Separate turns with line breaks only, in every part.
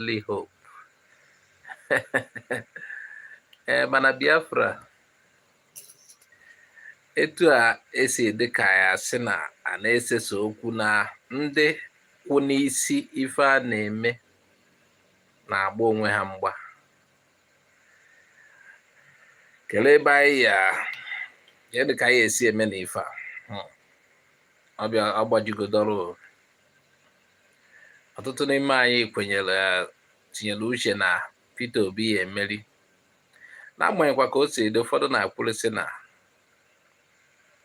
only hope ee eh, mana Biafra etu a esi dị ka ya sị na a na-esesa okwu na ndị kwụ n'isi ife a na-eme na-agba onwe ha mgba kelee ebe anyị ya adị ka anyị esi eme na ife a hmm. ọ gbajigodoro ọtụtụ n'ime anyị kwenyere tinyere uche na Peter Obi ya emeri n'agbanyeghịkwa ka o si dị ụfọdụ na-akwụrịsị na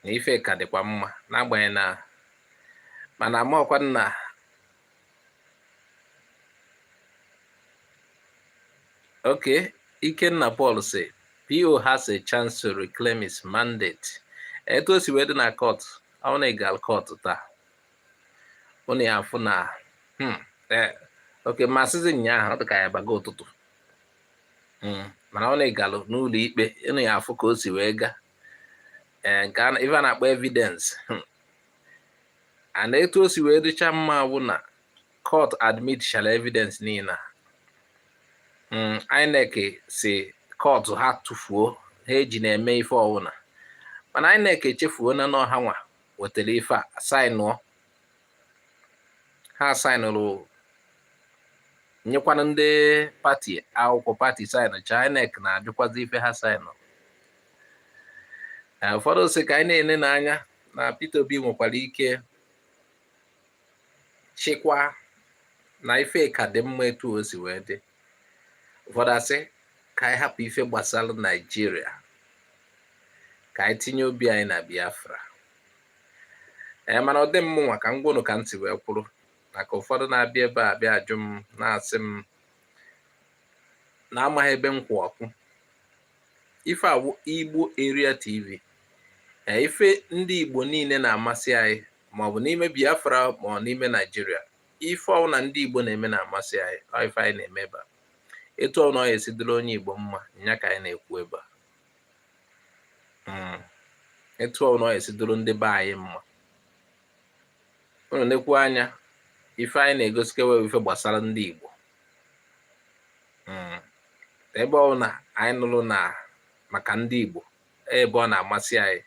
na ife ka dịkwa mma n'agbanyeghị na mana amaọkwa nna okay Ikenna Paul sị PO has a chance to reclaim his mandate etu o si wee dị na court onye galụ court taa ụnụ ya afụ na hmm, e, okay masịzi nyaahụ ọ dịka ya baga ụtụtụ hmm, mana onye galụ n'ụlọ ikpe ụnụ ya afụ ka o si wee gaa ee nke ife a na-akpọ evidence hmm. and etu o si wee dịcha mma bụ na court admitchala evidence niile a Mm, INEC sị court ha tụfuo ha ejina eme ife ọwụna mana INEC echefuo na n'ọ ha nwa wetara ife a saịnụọ ha saịnụrụ nyekwana ndị pati akwụkwọ pati saịnụcha INEC na-ajụkwazi ife ha saịnụrụ ụfọdụ sị ka anyị na-ele n'anya na Peter Obi nwekwara ike chịkwa na ife ka dị mma etu o si wee dị ụfọdụ asị ka anyị hapụ ife gbasara naijiria ka anyị tinye obi anyị na biafra ee mana ọ dị mụ nwa ka m gwa ụnụ ka m si wee kwụrụ maka ụfọdụ na-abịa ebe a bịa ajụ m na-asị m na amaghị ebe m kwụ ọkwa ife a wụ igbo area tv ee ife ndị igbo niile na-amasị anyị maọbụ n'ime biafra ma ọ n'ime naijiria ife ọwụna ndị igbo na-eme na-amasị anyị ọ ife anyị na-eme ebe a etu ọwụna ọ ya esi dịrị onye igbo mma nya ka anyị na-ekwu ebe a hmm. etu ọwụna ọ ya esi dịrị ndị be anyị mma unu nekwu anya ife anyị na-egosikewa ife gbasara ndị igbo hmm. ebe ọwụna anyị nụrụ na maka ndị igbo ebe ọ na-amasị anyị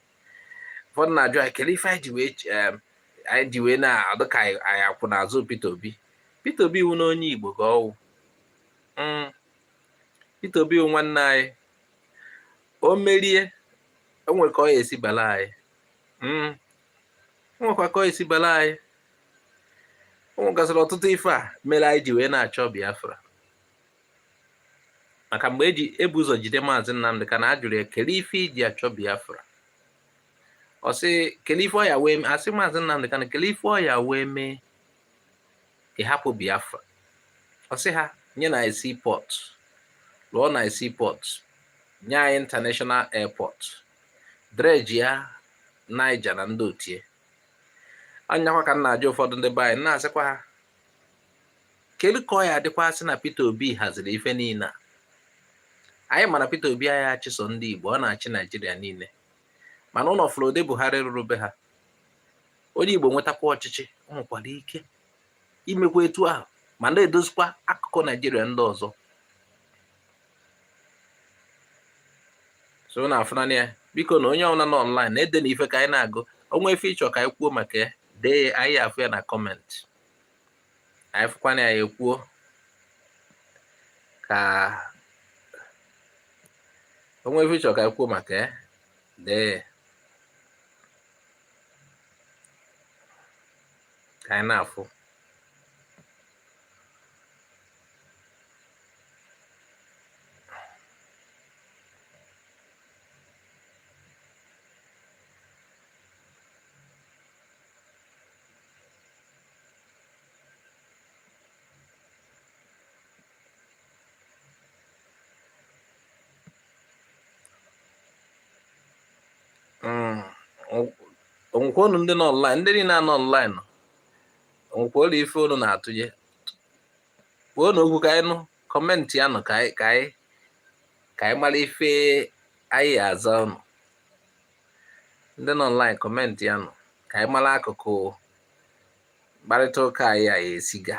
ụfọdụ na-ajụ anyị kele ife anyị ji wee na-adụ ka anyị akwụ n'azụ Peter Obi Peter Obi wụ na onye Igbo ka ọ wụ hmm. Peter Obi wụ nwanne anyị o merie o nwe ka ọ ya esi bala anyị hmm. o nwekwa ka ọ esi bala anyị o nwegasịrị ọtụtụ ife a mere anyị ji wee na-achọ Biafra maka mgbe e bu ụzọ jide maazị Nnamdi Kanu a jụrụ ya kele ife i ji achọ Biafra ọ sị kele ife ọ ya wee mee a sị maazị Nnamdi Kanu kele ife ọ ya wee mee ị hapụ Biafra ọ sị ha nye anyị seaport lụọla anyị seaport nye anyị international airport dredge ya Niger na ndị otie anyakwa ka m na-ajụ ụfọdụ ndị be anyị na-asịkwa ha kedu ka ọ ya adịkwa sị na Peter Obi haziri ife niile a anyị ma na Peter Obi aya achị sọ ndị Igbo ọ na-achị Naijiria niile mana unu fụrụ ụdị Buhari rụrụ be ha onye Igbo nwetakwa ọchịchị o nwekwara ike imekwa etu ahụ ma na-edozikwa akụkụ Naijiria ndị ọzọ so na afụnanya ya biko na onye ọbụla nọ online na-edenụ ife ka anyị na-agụ o nwee ife ị chọ ka anyị kwuo maka ya dee anyị afụ ya na comment anyị fụkwanụ ya ekwuo ka o nwee ife ị chọ ka anyị kwuo maka ya dee ka anyị na-afụ Mm. o nwekwa unu ndị nọ online ndị niile a nọ online o nwekwa ụlọ ife unu na-atụnyekwuo na okwu ka anyị nụ comment ya nụ ka anyị ka anyị ka anyị mara ife anyị aza unu ndị nọ online comment ya nụ ka anyị mara akụkụ mkparịta ụka anyị a ya esi ga